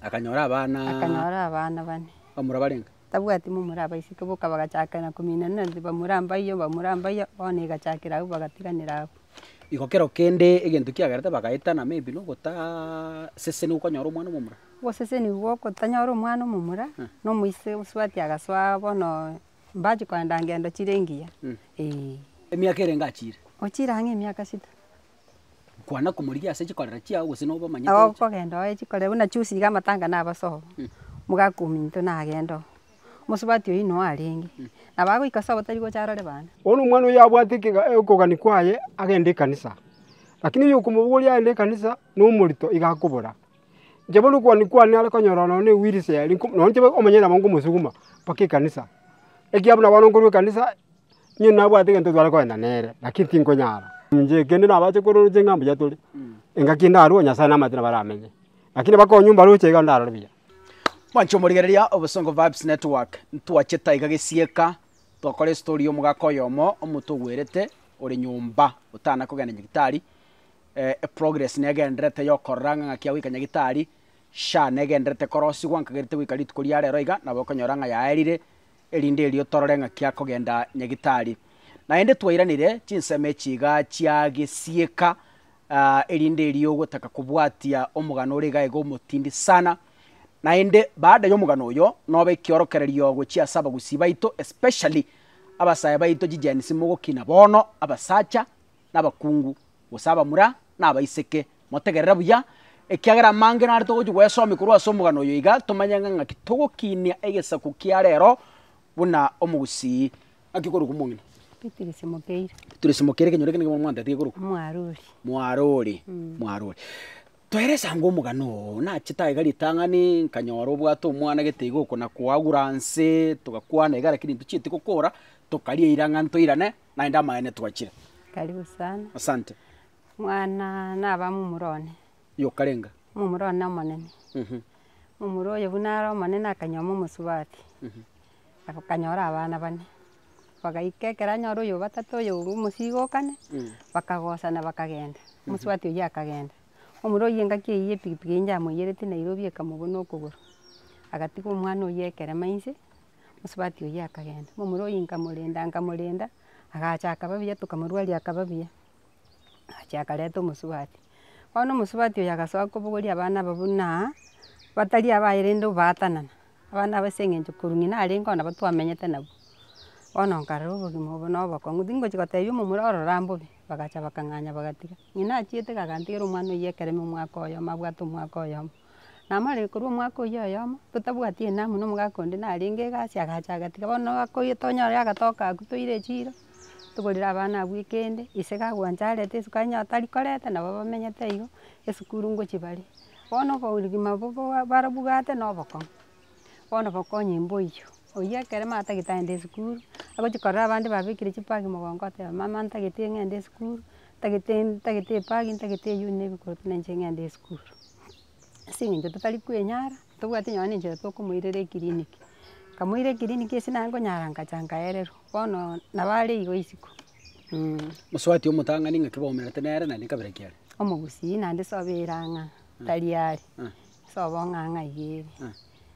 Akanyora abana. Akanyora abana bane. Bamura barenge. Tabwati momura abaiseke boka bagachakera kominana inse bamura mbaiyo bamura mbaiyo bono egachakera agwo bagatiganera agwo. Igo kero kende egento kiagerete bagaetana maybe nogotaa sese nigo okonyora omwana omomura. Oboseseni gwo gotanyora omwana omomura na omoise osubati agasoa bono mbachi kogenda ngendo chire engiya eeh. Emiaka erenge achire. Ochire ang'e emiaka sita. Kwana komorigia ase chikorero chiao gose nobomanye Nabo toche. kogenda oye chikorero buna chusi iga amatanga nabe ase obo. Omogaka ominto nagende oo, omosubati oyio inwe arenge, nabo agoika ase obo tari gocha arore baana. Bono omwana oyio abwate ekega- okogania kwaye, agenda ekanisa. Lakini oyokomobogoria agende ekanisa nomorito, iga akobora. Inche bono okwani kwane nare konyora nonya ewiriseria eri, nonya inche omonyene nabo nkosuguma mpaka ekanisa. Ekiya buna bono nkorwa ekanisa, onye nabwate egento tware kogenda nere, lakini tinkonyara. Inche kende nabache kororoche ng'a mbuya tore, engaki ndarue Nyasaye namaete nabo aramenye. Lakini abakoro nyomba baroche iga ndarore buya. Mwancha omorigereria Obosongo Vibes Network, ntwachete aiga gesieka, twakora estory ya omogaka oyomo, omonto ogwerete, ore nyomba, otana kogenda nyagitari, Eprogress negendererete yokorora ng'a ng'aki agoika Nyagitari, sha negendererete korosigwa nkagerite goika rituko ria rero iga, nabo okonyora ng'a yaerire, erinde erio torore ng'aki akogenda Nyagitari. Naende twairanire chinsemo echi iga chia gesieka, erinde erio ogotaka kobwatia omogano ore iga iga omotindi sana. Naende baada y'omogano oyo, nobe ekiorokererio gochia ase abagusii baito, especially abasae baito chi Gen-z mogokina bono, abasacha, nabakungu, gose abamura na abaiseke, motegerere buya, ekiagera amange nare togochia goyasomia korwa ase omogano oyo iga tomanye ng'a ng'aki togokinia egesaku kia rero buna omogusii. Ng'aki okorokwa omong'ina? Bitirisi Mokeire. Bitirisi Mokeire ekenyoro ekio nigo mwantete gekorokwa? Mwarori. Mwarori, mwarori. Toerese ango omogano oo, nachete aiga ritang'ani, nkanyora obwate omwana gete iga oko nakoagura nse, togakwana iga lakini ntochieti gokora, tokaria eira ng'a ntoirane. naende amaene twachire. Karibu sana. Asante. Mwana naba momura one. Yokarenga. Momura one omonene. Momura oyo buna are omonene akanyoma omosubati. Akanyora abana bane. Bagaika ekero anyora oyo obatato oyo bwa omosigo okane, bakagosana bakagenda. Omosubati oyio akagenda. Momura oyio engaki eyio ya epikipiki eyio yamoiyereti Nairobi ekamobuna okogoro. Agatiga omwana oyio ekerema inse. Mosubati oyio akagenda, momura oyio nkamorenda nkamorenda, agacha akaba buya tokamorwaria akaba buya, agacha akareta omosubati. Bono omosubati oyio agasoa kobogoria abana aba buna batari abaye rende obaatanana, abana aba ase eng'encho korwa ng'ina arenge oo nabo twamenyete nabwo. Bono nkarora obogima obo na obokong'u, tingochi kotebia omomura oo rora mbobe, bagacha bakang'anya bagatiga. Ng'ina achiete iga akantigera omwana oyio ekeremo omwaka oyomo abwate omwaka oyomo. namare korwa omwaka oyio oyomo, totabwati enamu na omogaka onde narenge egasi agacha agatiga bono omogaka oyio tonyore agatoka agwo toire echiro, togorere abana abwo ekende, ise gagwancha arete esukari onye tari koreta nabo bamenyete igo, esukuru ngochia bare. Bono obogima obo boa barabwate na obokong'u, bono bokonye mboyio, oyio ekero mama tagete agende esukuru, agochia korora abande babekire chipaki mogongo oteba mama ntagete ng'ende esukuru, ntagete ntagete ebagi ntagete eyuuni na ebikoroto na inche ng'ende esukuru. Ase eng'encho totari kwenyara, ntobwati nonye na enchera tokomoirera eclinic, nkamoira eclinic ase naye nkonyara nkacha nkaererwa, bono nabo are igo isiko mh. Mosubati omotang'ani ng'aki bwaumerete nere naende kabira ki are? Omogusii naende sobe erang'a tari are. Ase obong'ang'a iga ere.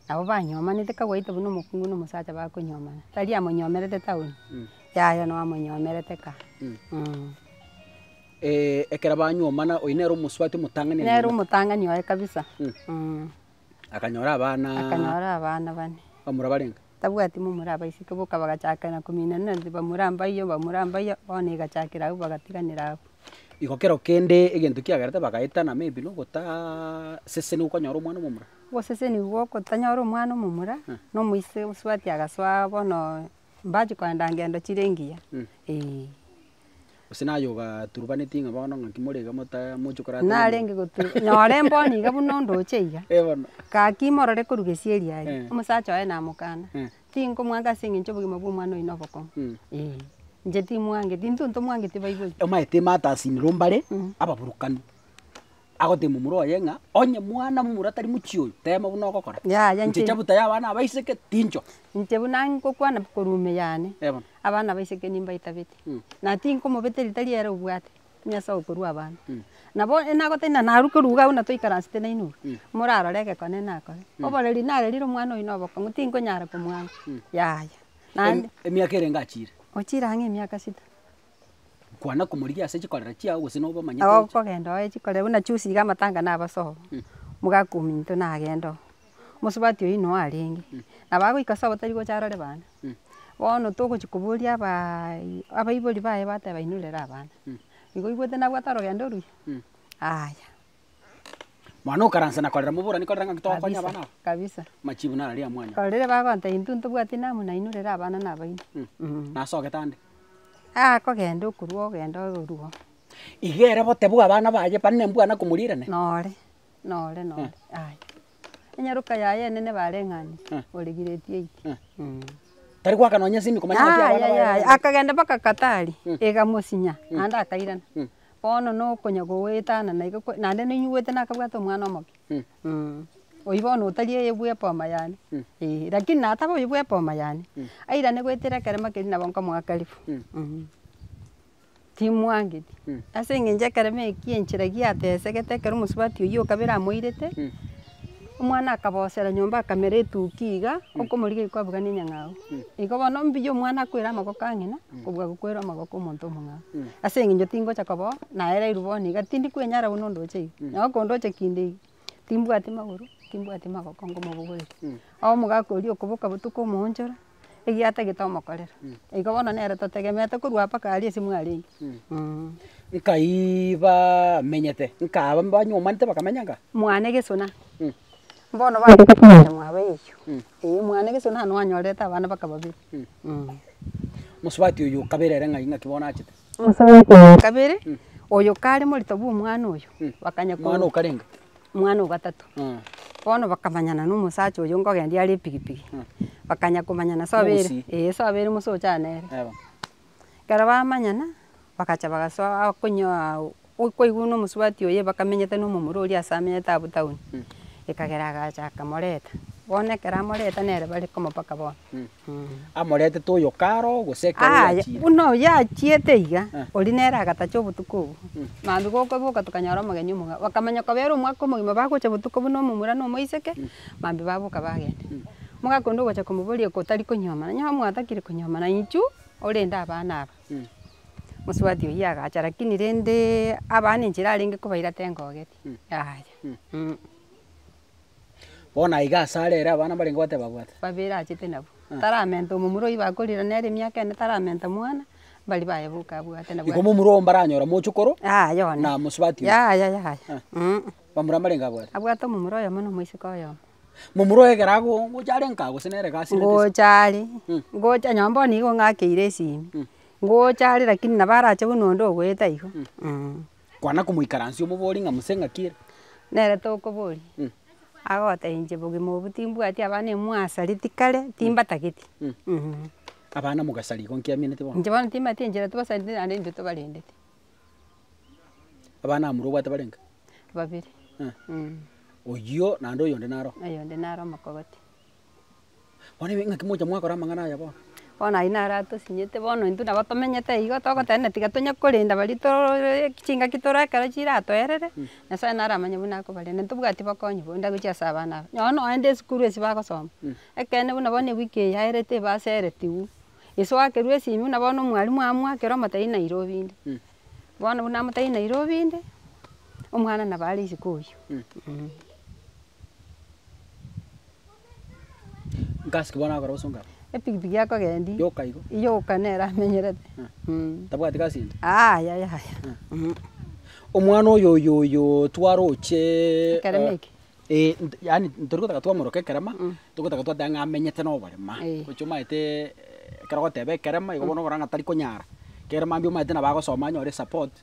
Nabo banyomanete kagwaite buna omokungu na omosacha bakonyomana. Tari amonyomerete town, yaya nao amonyomerete ka. ekero banyomana oyio nere omosubati omotang'ani anyomete. Nere omotang'ani oye kabisa. Akanyora abana. Akanyora abana bane. Bamura barenge? Tabwati momura abaiseke boka bagachakera kominana inse bamura mbaiyo bamura mbaiyo bono egachakera agwo bagatiganera agwo. Igo kero kende egento kiagerete bagaetana maybe na ogotaa seseniwa okonyora omwana omomura. Ogoseseniwa gwo kotanyora omwana omomura, na omoise osubati agasoa bono mbachi kogenda ngendo chire engiya, eeh. Gose naye ogaturubanetie ng'a bono ng'aki more iga mota- moche korata na omonto? Narenge gotu- nyora emboni iga buna ondoche iga. Eh, bono. Gaki imorore korwa gesieri aye. Eh. Omosacha oye namokana, Eh. tinkomwanga ase eng'encho obogima bwa omwana oye nobokong'u. Mm. Ee, inche timwangeti, intwe ntomwangeti baibori. Omanyete ematasinero mbare, ababurukani. Agoteebia momura oye ng'a, Onye mwana momura tari mochie oyo, teema buna ogokora. Yaya, inche- Nchicha buta y'abana abaiseke, tincho. Inche buna ngokwana korwa ime yane, Eh, bono. abana abaiseke nimbaitabete, Mm. na tinkomobete ritari ere obwate Nyasae okorua abanto. Mm. Nabo enagotari na naruke ruga agwo na toikaransete nainwe, Mm. morarore egekonene nakore. Oboreri narerire omwana oyo na obokong'u, tinkonyara komwanga. Yaya. Naende, Em- Emiaka ere ngachiire. ochire ang'e emiaka sita. Kwana komorigia ase chikorero chiao gose nobomanyete Nao inche. okogenda oye chikorero buna chusi iga amatanga nabaso oo. Mogaka ominto nagende oo. Mosubati oyio noyo arenge. Nabo agoika ase obotari gocha arore bana. Bono togochi koboria abaa abaibori baye bateba inwe rera abana. Igo oigwete nabwate orogendo oruya? Aya. Mwana okaransa na korera moborani korera ng'aki tokonya abana aba. Kabisa, kabisa. Machibu naro ria mwanya. Oro riria bagoancha intwe ntobwati namu nainwe rero abana nabaino. Mh. Nase ogete ande. Akogenda okorua ogenda oruwo. Iga ere bote bwa abana baye bane ne mbwana komorirane? Nore, nore, nore, aye. Enyaroka yaye enene bareng'anire, Eh. ore giredi eye. Eh. Mh. Tari goaka nonye esimi komanya ng'aki abana Yaya, baye. yaya, akagenda mpaka Katari, Mh. egamosinya, naende akairana. Mh. Bono nokonya goetana na iga kwe naende nainyuete nakabwate omwana omoke oyio bono otari eye bwa eboma yane eh, lakini na ataba oyio bwa eboma yane airane goetera ekeremo keria nabo nkomoakarifu timwangeti ase eng'encho ekeremo ekio enchera giatesegete ekero omosubati oyio okabe eramoirete. Omwana akabosera nyomba akamera etuki iga, okomorigia oyi kwabugana enyang'au. Igo bono mbuya omwana akwere amagoko a ng'ina, kobua gokwera amagoko a omonto omong'ao. Ase eng'encho tingocha koba oo, naereirwe bono iga, tindi kwenyara buna ondoche iga. Nabo kondoche kinde iga, timbwati magoro, timbwati magoko ngomobogoreria. Omogaka oria okoboka botuko omoonchora, Egiata gitomokorera, igo bono nere totegemeete korwa mpaka aria ase mwarenge, eeh. Nkaai bamenyete, nkaaba mbanywomanete bakamenya nkaaba. Mwane gesona, bono bachaka komanya mwabo eyio, eeh mwane gesona nabo anyorerete abana mpaka babere, eeh. Omosubati oyo okabere ere ng'ai ng'aki bono achete? Omosubati oyo okabere, oyo kare morito bwa omwana oyo, bakanya ko. Omwana okarenge. Omwana o gatato, bono bakamanyana na omosacha oyio nkogendia are epigipigi, bakanya komanyana so abere Mogusie. ee so abere mose ochana nere. Eba. Ekero bamanyana, bagacha bagasoa konyoa okoigwa na omosubati oye bakamenyete na omomura oria ase amenyete abwo town, ekagera agacha akamoreta, bono ekero amoreta nere bare komopaka bono. amoretete oyo karo, gose ekero yachiire. Buna oyo achiete iga, oria nere agatacha obotuko obwo. Mambia gokoboka tokanyora omogenyi omong'ao. Bakamanya koba ere omwaka omogima bagocha botuko buna omomura na omoiseke, mambia baboka bagenda. Omogaka onde ogocha komoboria otari konyuomana, onye mwatakire konyuomana inchu orende abana aba. Mosubati oyio agacha lakini rende abana enchera arenge kobaira tengogeti, yaya. Bono aiga ase are ere abana mbarenge goteba abwate. Babere achete nabwo. Taramenta omomura oyio bakorire nere emiaka ene taramenta mwana, mbari baye boka abwate nabwo. Igo momura oo mbaranyora mochokoro. Aa yona. Na mosubati oyo. Yaya yaya. Aa. Bamura mbarenge abwate. Abwate omomura oyomo na omoiseke oyomo. Momura oyo ekero ago gocha are nkaa gose nere egasi. Ngocha are. Ngocha nonye bono nigo ng'akeire esimi. Ngocha are lakini nabo arache buna onde ogoeta igo. Kwana komoikaransia omobori ng'a muse ng'aki ere. Nere tokoboria. Agoteba inche bogima obwo timbwati abana emwasareti kare timbatageti. Abana mogasara igo nkiamineti bono. Inche bono timbati enchera tobasareteti naende intwe tobarendeti. Abana abamura obwate bare inga? Babere. Oyio naende oyonde naro? Oyonde naro omokogoti. Kwarenge ng'aki mocha mwakora amang'ana aya bono? Bono ayio naro atosinyete bono intwe nabo tomenyete igo togotenena tiga tonya korenda baria torooree chingaki tore ekero chiratoerere, Nyasaye naro amanye buna akobarenda. Ntobwati bokonyi bonde agochia ase abana aba, nonye noende esukuru esi bagosoma, ekeene buna bono ewiki eye yaerete ebaseretigwe, gese oakerwa esimi buna bono omwalimu amoakera omotebi Nairobi inde, bono buna amotebi Nairobi inde, omwana nabo are isiko oyio. Nkasike bono agakora gose ongabe. Epikipiki yakogendia. Yoka igo. Yoka nere amenyerete. Tabwati gasi ende. Aa yaya yaya. Omwana oyo oyo oyo twaroche. Ekerema eke. Ee yaani torigotaka twamoroka ekerema, togotaka twateba ng'a amenyete noborema. Ee. Gochia omanyete ekero ogoteba ekerema, igo bono ogokora ng'a tarikonyara. Ekerema mambia omanyete nabo agosoma anyore esapoti.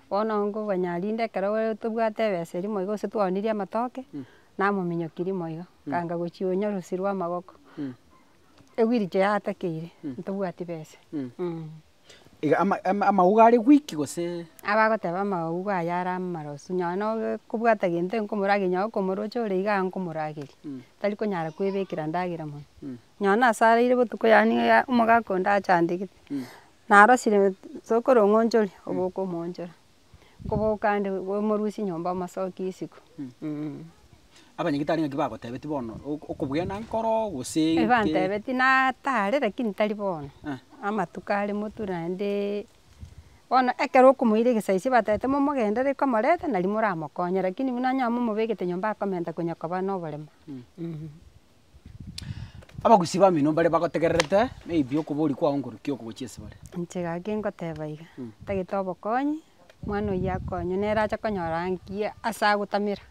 Bono nkoganya rinde ekero tobwate ebesa eria moigo gose twaonirie amatoke, namominyokirie moigo, ganga gochia onya orosi rwa amagoko, ewiricho yatakeire, ntobwati besa. Iga ama- ama- amauga are weak gose. Abagoteba amauga aya are amarosu, nonye na obe kobwata gento nkomorageria nonye okomoroche ore iga iga nkomorageria, tari konyara kwebekera endagera monwe. Nonye na ase araire botuko yaani omogaka onde achandegete, Narosire tokorong'onchori obokomoonchora, nkoboka ande omorusie nyomba omosokie isiko eeh. Abanyagitari ng'aki bagotebeti bono ok- okobwena nkoro gose ki? Ebantebeti natare lakini tari bono, amatuko are moture naendeee, bono ekero okomoira egesaiswa batebete momogenderere komoreta nari moramokonye lakini buna onye omobegete nyomba akomenta konya koba noboremo. Abagusi bamino mbare bagotegererete maybe okoboria kwao nkorukia okogochia ase bare. Inche gaki ngoteba iga, tagete obokonyi, mwana oyio akonywe, nere ache konyora nki ase agotamera,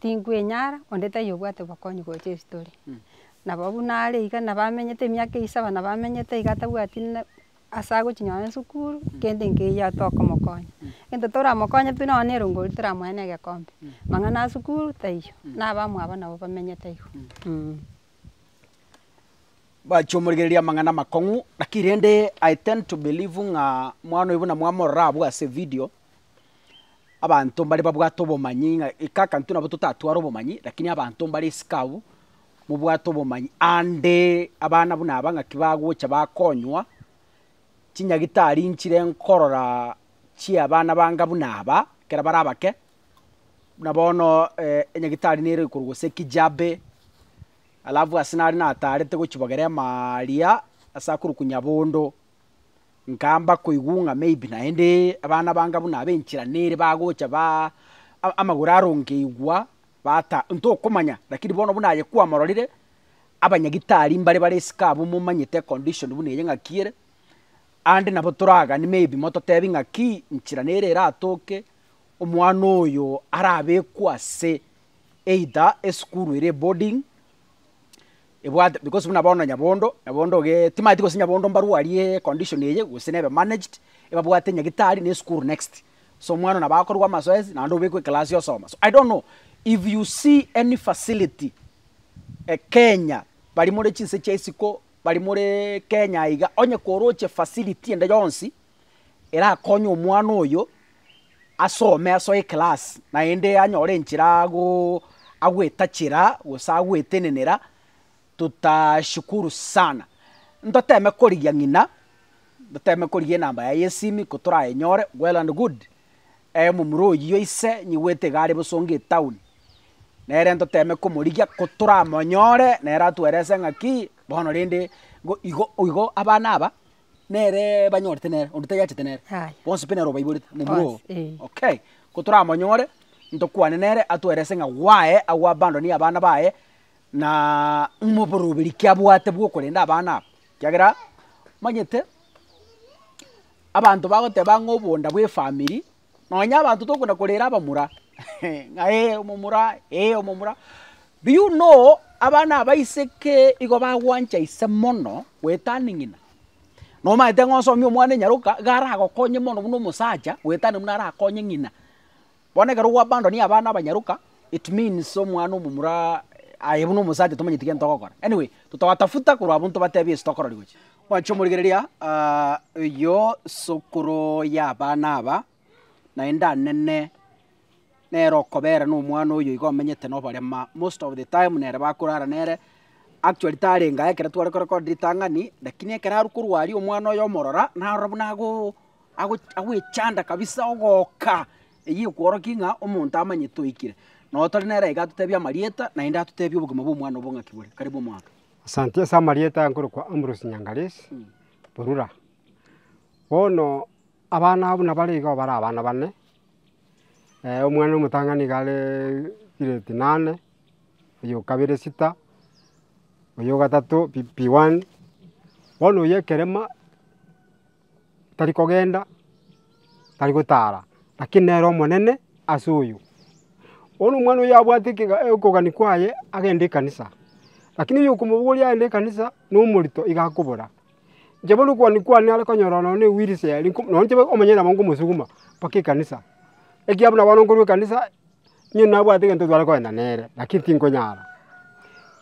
tinkwenyara, onde taiyo obwate obokonyi gocha estori. Nabo buna are iga, nabo amenyete emiaka esaba nabo amenyete iga atabwati ne ase agochia nonye esukuru kende nkeiyo tokomokonya, egento toramokonye pi nonye na erongori toramoe na egekombe, mang'ana ya sukuru taiyo, na abamwabo nabo bamenyete igo mh. Bachia omorigereria amang'ana amakong'u, lakini rende I tend to believe ng'a omwana oyo buna mwamorora abwo ase evidio, abanto mbare babwate obomanyi ng'a kaka intwe nabo totatware obomanyi, lakini abanto mbare isiko abwo, mobwate obomanyi, aande abana buna aba ng'aki bagocha bakonywa chinyagitari nchire nkorora chi'abana banga buna aba, ekero bare abake, buna bono enyagitari nere korwa gose Kijabe, alafu ase nare nataarete gochibogera emaaria ase akorokwa Nyabondo. Nkamba koigwa ng'a maybe naende abana banga buna abe enchera nere bagocha ba amagoro aronge igwa bata ntokomanya lakini bono buna aye kwamororire, abanyagitari mbare bare esika abwo momanyete econdition buna eye ng'aki ere, ande nabo toragani maybe mototebi ng'aki nchera nere eratoke omwana oyo arabekwe ase either esukuru ere eboarding ebwate because buna bono nyabondo, nyabondo gee timanyeti gose nyabondo mbarwa arie condition eye gose nebe managed, ebabwate nyagitari na esukuru next. So omwana nabo akorwa amazoezi naende obekwe ekelasi osoma. So I don't know if you see any facility Kenya baria more chinse chia isiko, baria moreee Kenya iga, onye koroche facility ende yonsi. erakonye omwana oyo asome asoe eclass naende anyore enchera ago agwetachera gose agwetenenera tutashukuru sana. Ntoteme korigia ng'ina, ntoteme korigia enamba yaye ya esimi kotorayenyore, well and good, omomura oyio ise nyigwete iga are bosa onga etown, nere ntoteme komorigia kotoramonyore nere atuelese ng'aki bono rende igo igo igo abana aba. neree banyorete nere, onde tayachete nere, Yaya. bonsi pi nere obaiborete momura oo. Bonsi, eh. Okay, ko toramonyore, ntokwane nere atwerese ng'a gwaye agwo abando ni abana baye, naa ng'uma oboroberi ki abwate bw'okorenda abana aba, ekiagera omanyete, abanto bagoteba ng'a obonda bw'efamiri, Nonya abanto tokogenda korera abamura, ng'a ee omomura, ee omomura. Do you know abana abaiseke igo bagwancha ise mono goetania ng'ina? Nomanyete ng'a osomie omwana enyaroka, iga aragokonye mono buna omosacha goetania buna arakonye ng'ina. Bono ekero gwa abandon abana abanyaroka, it means omwana omomura aye buna omosacha tomanyeti gento ogokora. Anyway, totogatafuta korwa abwo ntobatebi ase tokororigwe. Mwanche omorigereria oyio sokoro y'abana aba, naende anene nere okobera nomwana oyo iga omenyete noborema, most of the time nere bakorara nere, actually tarenge aye ekero tware korecord ritang'ani, lakini ekero arwe korwa aria omwana oye omorora, narora buna ago ago agwechanda kabisa ogoka, eyio ekworokia ng'a omonto amanyete oikire. Noo tore nere iga atotebia amarieta, naende atotebia obogima bwa omwana obo ng'aki bore, karibu omwami. Asante ase amarieta aya nkorokwa Ambrose Nyangalesi, Borura. Bono abana abwo nabare iga bare abana bane, omwana omotang'ani nigo are grade nane, oyo okabere sita, oyo ogatato P one, bono oyo ekerema. tari kogenda, tari gotaara, lakini nere omonene ase oyo. Bono omwana oyio abwate ekega okogania kwaye, agende ekanisa, lakini oyio okomobogoria agende ekanisa, nomorito iga akobora. Inche bono okogania kwane nare konyora nonya ne wheel chair riko nonya inche omonyene nabo nkosuguma mpaka ekanisa. Ekiya buna bono nkorwa ekanisa, niyo nabwate egento tware kogenda nere, lakini tinkonyara.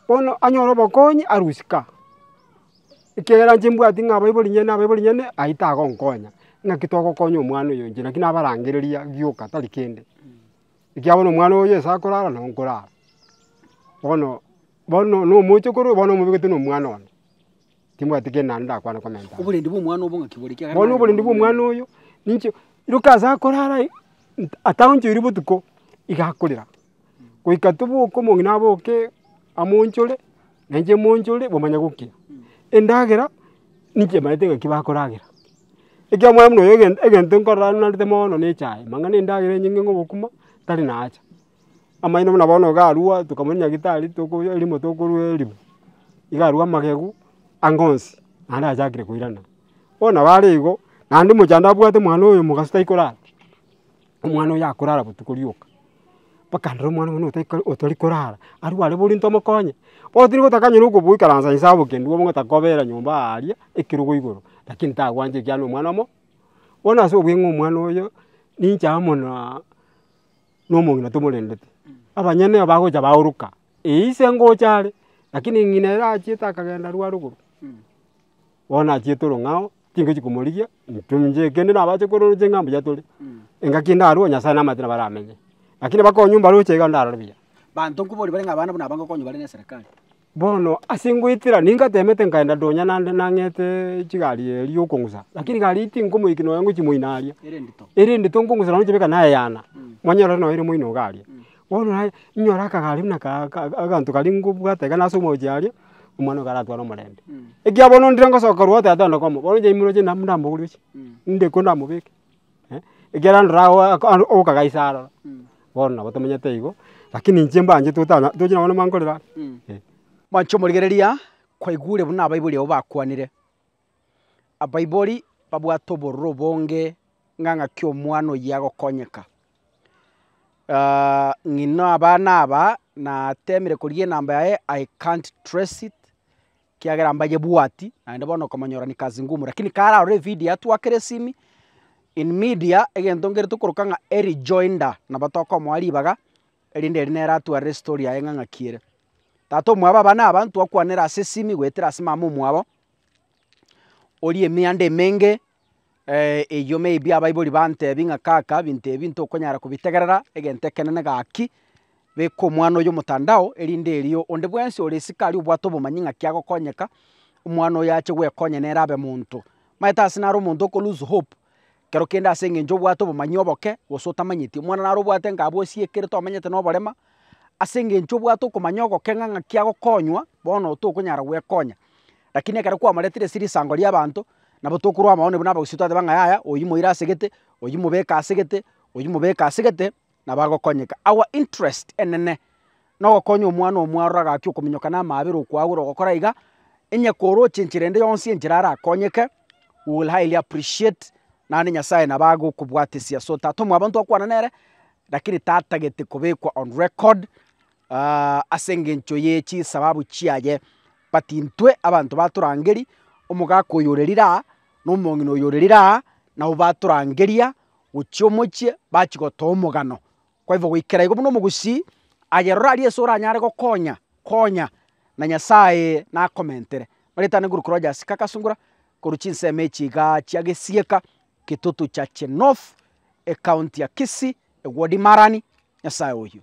Bono anyore obokonyi arusie ka. ekiagera inche mbwati ng'a abaibori inye na abaibori inye aye tagonkonya, ng'aki togokonya omwana oyo inche naki nabarangereria gioka tari kende. Ekiagera bono omwana oyo ase akorara nabo nkorara, bono bono na omoche korwa oyo bono omobekete na omwana one, timbwati kende naende ndakwane komenta ande. Oborendi bwa omwana obo ng'aki bore ekiagera. Bono oborendi bwa omwana oyo ninki, roka ase akorara aye, ataonchoiri botuko iga akorera. goika toboke omong'ina aboke amo onchore, na inche ime onchore, bamanye gokina. Endagera, ninche ebaete ng'aki bakoragera. Ekiagera omwami buna oyo egen egento nkorora narwete mono na echae, mang'ana endagera enyinge ng'a obokima, tari naacha. Amaino buna bono iga arwa, tokamanya nyagitari toko erimo tokorwa erimo, iga arwa amagegu, anga onsi, naende achakire koirana. Bono nabo are igo, naende mochando abwate omwana oyo omogaso taikorara. omwana oyo akorara botuko rioka, bakanera omwana oyo buna otari korara, arwe are borie ntomokonye, bono tiri gotaka onye nokoboikaransa inse aboke ndwo bono gotaka kobera nyomba aa aria ekerogo igoro, rakini tagwancha ekiagera nomwana omo. Bono ase obweng'e omwana oyo, ninche amo monaa na omong'ina tomorendeti, abanyene nabo bagocha baoroka, eyi ise ngocha are, rakini ng'ina ere achiete akagenda arware igoro, bono achiete orong'ao. tingochi komorigia, intwe inche kende nabache kororochia ng'a mbuya tore, engaki ndarue Nyasae namaete nabo aramenye. Lakini bakonyu mbaroche iga ndarore buya. Banto nkobaria bare ng'a abana buna aba ngokonywa bare neserekari. Bono ase ngoetera ningatemete nkaenda donya nande nang'eteee chigari eye riokong'usa, lakini gari eye tinkomoiki nonya ngochi moino aria, Ere endito. ere endito nkong'usa nonya ochiabeka nayeyana, monyore ore noyo ere moino iga aria. Bono naye, inyora akagari buna aka aka aganto karia ngobwate iga nase omorochi aria, omwana oyo karatware omorembe. Ekiagera bono ndire ngosoka korwa go tata onde komo, bono inche aimoroche inde amo ndambogorie oche, inde ekero ndamobeke, ekiagera ndora ago aka aro okagaisa aroro, bono nabo tomenyete igo, rakini inche mbanchete otana tochi nonye mwankorera ande eh. Mwanche omorigereria kwaigure buna abaibori abo bakwanire. Abaibori babwate obororo obonge ng'a ng'aki omwana oyio agokonyeka. Ng'ina abana aba natemire korigia enamba yaye I can't trace it ekiagera mbanyebwati naende bono okomonyora ni kazi ngumu lakini kare aroro evidio atwakere esimi in media egento ngerito okoroka ng'a Eric Joinda nabo tokomoa ribaga erinde ere nere atwarire estory yaye ng'a ng'aki ere. Tata omwabo abana aba ntwakwanera ase esimi goetera ase mama omwabo orie emianda emenge, eyio maybe abaibori bantebi ng'a kaka binto ebi ntokonyara kobitegerera, egento ekenene gaki, beka omwana oyio motandao erinde erio onde bwensi ore isiko aria obwate obomanyi ng'aki agokonyeka, omwana oyo ache gwekonya nere abe monto. Omanyete ase naro omonto oko lose hope. Kero kende ase engencho obwate obomanyi oboke gose otamanyeti, omwana naro obwate ng'a abwo osiekerete omanyete noborema, ase engencho obwate okomanya ogoke ng'a ng'aki agokonywa, bono tokonyara gwekonya. Rakini ekero kwamoretire ase risango riabanto, nabo tokorwa abao buna abagusii twateba ng'a yaya oyio moira asegete, oyio mobeke asegete, oyio mobeke asegete, na bagokonyeka. Our interest enene nogokonya omwana oo mwaroro agaki okominyoka na amaabera okwagora ogokora iga, inye koroche enchera ende yonsi enchera arakonyeke, we will highly appreciate naende Nyasaye nabo agokobwatesia. So tata omwabo ntokwana nere, lakini tatagete kobekwa on record ase engencho ye chisababu chiaye. But intwe abanto batorangeria, omogaka oyorerire aa, nomong'ina oyorerire aa, nabo batorangeria. gochia omochie bachia gotoa omogano. Kwa hivyo goikera igo buna omogusii aye rora aria ase oranyare gokonya konya na Nyasaye nakomentere. Maritana iguru korwa jasika kasungura korwa chinsemo echi igaa chia gesieka kitutu cha chinofu ecounty ya kisii ewodi marani Nyasaye oyio.